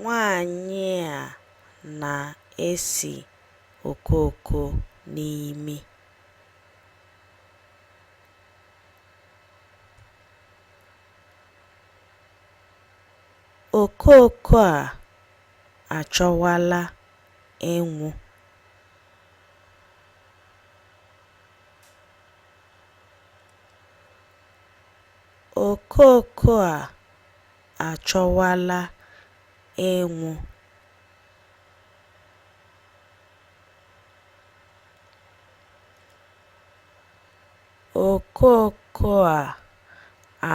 Nwaanyị a na-esi okooko n'imi. Okooko a achọwala ịnwụ. Okooko a achọwala ịnwụ. Okooko a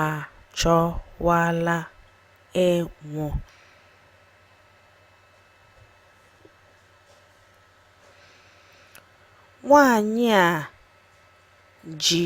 achọwala ịnwụ. Nwaanyị a ji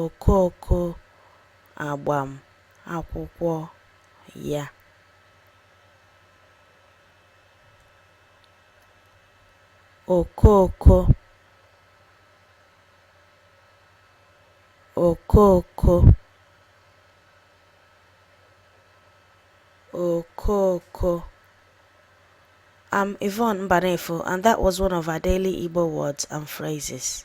okooko agbam akwụkwọ ya. okooko okooko okooko I'm Yvonne Mbanefo, and that was one of our daily Igbo words and phrases.